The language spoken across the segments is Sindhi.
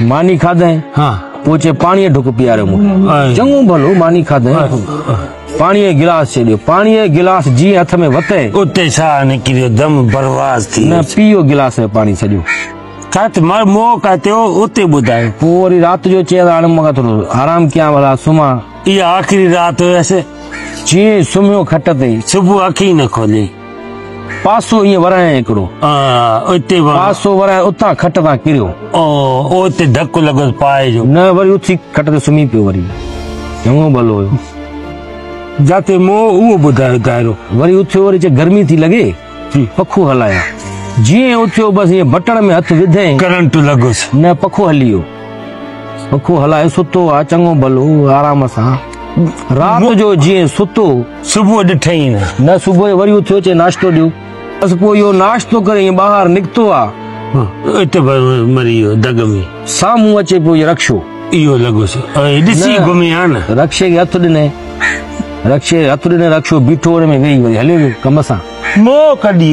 ماني کاڌئين، پوء چي پاڻيء جو ڍڪ پياريو مون کي. چڱو ڀلو ماني کاڌئين، پاڻيء جو گلاس چيڏيو. پاڻيء جو گلاس جيئن هٿ ۾ وتئين. اتي ساهه نڪريو، دم برواز ٿي ويو. نه پيئو گلاس ۾ پاڻي سڄو. ڪٿ مر مئو ڪاتيو، اتي ٻڌايو. پوء وري رات جو چيس، هاڻي مون کان ٿورو آرام ڪيان ڀلا سمهان. اها آخري رات هيس. چيئين سمهيو کٽ تي. صبح اکيون نه کوليئي. پاسو ائين ورهايائين هڪڙو. آء اتي ورهايو. پاسو ورهايو اتان کٽ تان ڪريو. آء اتي ڌڪ لڳس پاء جو. نه وري اٿي کٽ تي سمهي پيو وري. چڱو ڀلو هيو. جاتي مون اهو ٻڌايو دائرو. وري اٿيو وري چيو گرمي ٿي لڳي پکو هلايان. جيئن اٿيو بس ائين بٽڻ ۾ هٿ وڌئين. ڪرنٽ لڳس. نه پکو هلي ويو. پکو هلايو ستو آ چڱو ڀلو آرام سان. رات جو جيئن ستو صبح ڏٺئي نه. نه صبح جو وري اٿيو چئي ناشتو ڏيو. بس پوء اهو ناشتو ڪري ائين ٻاهر نڪتو آ. اتي مري ويو دڳ ۾. سامهون اچي پيو رڪشو. اهو لڳس ائين ڏسي گهمي آ نه. رڪشي کي هٿ ڏنئي. رڪشي کي هٿ ڏنئي رڪشو بيٺو ان ۾ ويهي وري هليو ويو ڪم سان. منهن ڪڍي.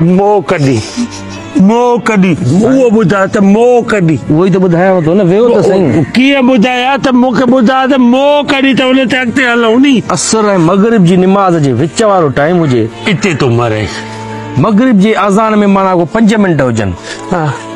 مو ڪڍي مو ڪڍي اهو ٻڌاء ته مو ڪڍي اهو ئي ته ٻڌايانو ٿو نه ويهو ته سهي ڪيئن ٻڌايا ته مون کي ٻڌاء ته مو ڪڍي ته ان تي اڳتي هلون ني عصر ۽ مغرب جي نماز جي وچ وارو ٽائيم هجي اتي ٿو مرين مغرب جي اذان ۾ معنيٰ ڪو پنج منٽ هجن ها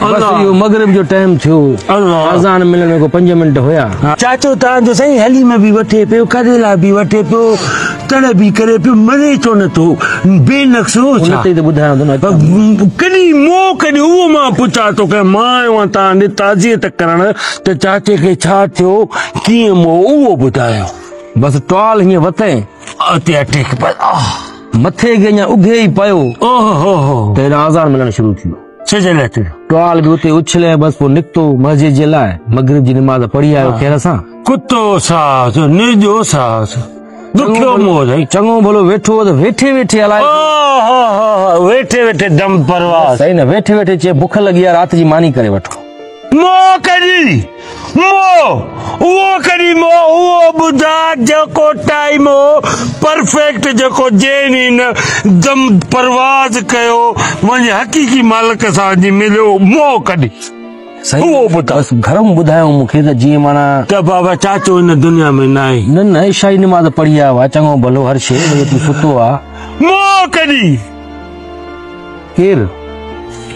بس اهو مغرب جو ٽائيم ٿيو اذان ملڻ ۾ ڪو پنج منٽ هيا. چاچو تان جو سائين حليم به وٺي پيو ڪريلا به وٺي پيو تڙ به ڪري پيو مري ڇو نه ٿو بي نقص هو ڇا. ان تي ته ٻڌايان ٿو نه اچان ٿو. ڪڏي موڪ ڏي اهو مان پڇان ٿو ڪنهن مان آيو آهيان تان ڏي تعزيت ڪرڻ ته چاچي کي ڇا ٿيو ڪيئن مئو اهو ٻڌايو. بس ٽال هيئن وتين. اتي اٽيڪ بس آه. مٿي کي اڃا اگهي ئي پيو ته هيڏانهن اذان ملڻ شروع ٿيو. سج لهه تي ٽوال به اتي اڇلي بس پوء نڪتو مسجد جي لاء مغرب جي نماز پڙهي آيو خير سان ڪتو ساس نرجو ساس دکيو مور چڱو ڀلو ويٺو ته ويٺي ويٺي الائي ويٺي ويٺي دم پرواز صحيح نه ويٺي ويٺي چي بک لڳي آ رات جي ماني ڪري وٺو مو ڪري مو، اهو ڪري مو اهو ٻڌاء جيڪو ٽائيم هو پرفيڪٽ جيڪو جين هن دم پرواز ڪيو وڃ حقيقي مالڪ سان اڄ مليو مو ڪري اهو ٻڌاء. بس گهرم ٻڌايائون مون کي ته جيئن معنيٰ. ته بابا چاچو هن دنيا ۾ ناهي. نه نه عشائي نماز پڙهي آيو آهي چڱو ڀلو هر شيء وڃي تون ستو آ. مو ڪري. ڪير؟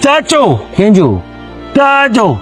چاچو. ڪنهن جو؟ تنهنجو.